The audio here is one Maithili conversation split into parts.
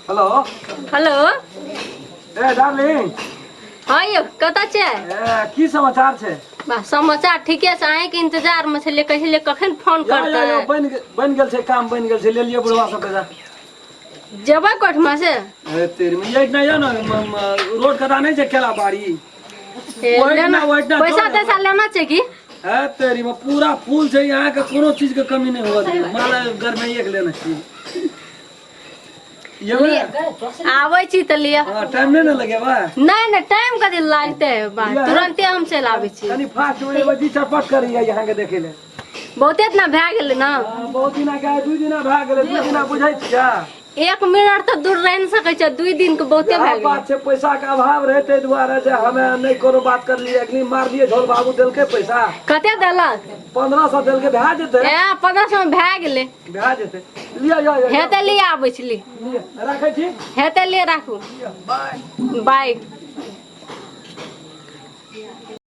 हेलो हेलो ए डार्लिंग हाँ यौ कतऽ छै ए की समाचार छै बा समाचार ठीके छै अहींके इंतजार में छलियै कहिले कखन फोन या या या करतै बनि गे- बनि गेल छै काम बनि गेल छै ले लिअ बुढ़वा सबके जा जेबै कोठमा से ए तेरी में ये इतना या ना म- म- रोड कदा नहीं छै केला बाड़ी ए, वही लेना- ना, वही ना, पैसा दो ना। तैसा लेना छै कि है तेरी में पूरा फूल छै यहाँ के कोनो चीज के कमी नहीं होगा दीदी माला घर में एक लेना चाहिए ये में- आबै छी तऽ लिअ हाँ, टाइम नहीं ना लगे बा नहि नहि टाइम कथी लागते है बा लिअ। तुरंते हम चलि आबै छी तनी फास्ट में एगो जी चरपट करिए यहाँ के देखे ले बहुते इतना भए गेलै ने हाँ, बहुत दिना के दू दिना भए गेलै दू दिना बुझै छियै एक मिनट तऽ दूर रहि नहि सकै छै दुइ दिन के बहुते इएह भए गेलै बात छै पैसा के अभाव रहे ताहि दुआरे जे हमे नहि कोनो बात करलियै अखनी मारलियै ढोल बाबू देलकै पैसा कते देलक पंद्रह सौ देलकै भए जेतै ए पंद्रह सौ मे भए गेलै भए जेतै लिअ यौ यौ, हे यौ तऽ लिए आबै छी ली लिअ। राखै छी हे तऽ लिए राखू लिअ, बाय बाय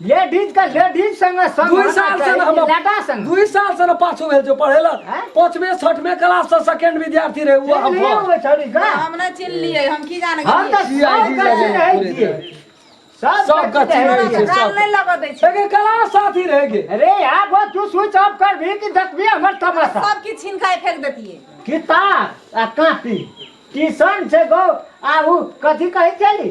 लेडीज का लेडीज संग संग दुई होना साल से चाहिए, हम लटा संग दुई साल से न पाछू भेल जो पढ़ेलक हैं? पांचवे छठवे क्लास से सेकंड विद्यार्थी रहे वो हम नहीं हुए छोड़ी का हम ना चिन लिए हम की जाने हम तो जी, सब जी, कच्ची जी, रहे पूरे छिए। दिन। सब सब कच्ची कच्ची रहे रहे छिए। छिए। गाल नहीं लगा दै छै लेकिन क्लास साथी रह गए अरे यार वो तू स्विच ऑफ कर भी कि देखबी हमर तमाशा सब की छीन खाए फेंक देतिए किताब आ कॉपी ट्यूशन से गो आ उ कथी कहै छली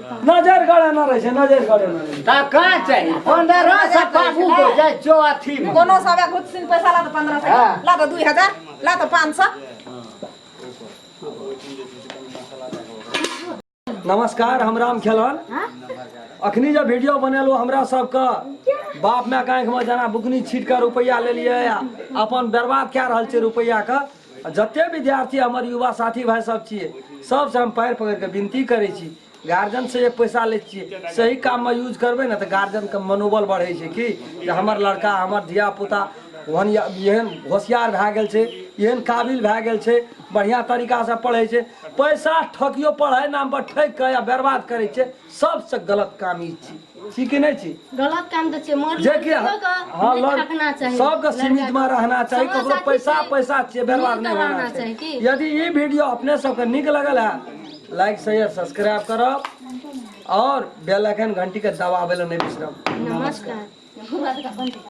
नजर गड़े ना रहे छै नजर गड़े ना रहे ता का चाहिए पंद्रह सौ पाबू को जाए जो अथी में कोनो सबे खुद सिन पैसा ला तो पंद्रह सौ हाँ। ला तो दुई हजार ला तो पाँच सौ नमस्कार हम राम खेलन अखनी जब वीडियो बनेलो हमरा सबके बाप माय के आँखि में जना बुकनी छीट के रुपैआ लेलियै अपन बर्बाद कए रहल छै रुपैआ के आ जते विद्यार्थी हमर युवा साथी भाई सब छियै सबसँ हम पैर पकड़ि कऽ विनती करै छी गार्जियन से जे पैसा लै छियै सही काम मे यूज करबै ने तऽ गार्जियन के मनोबल बढ़ै छै कि जे हमर लड़का हमर धिया पुता ओहन या- एहन होशियार भए गेल छै एहन काबिल भए गेल छै बढ़िया तरीका से पढ़ै छै पैसा ठकियो पढ़ाइ नाम पर ठकि कऽ या बर्बाद करै छै सबसँ गलत काम ई छी छी कि नहि छी गलत काम तऽ छै मगर जे कि लड़कियों के हँ नीक लड़- रखना चाही सबके सीमित मे रहना चाही समझ ककरो साथी पैसा छै। पैसा छियै व्यवहार नीक नहि रहना होना चाही चाही की? यदि ई वीडियो अपने सबके नीक लगल है लाइक शेयर सब्सक्राइब करब और बेल आइकन घंटी के दबाबै लए नहि बिसरब नमस्कार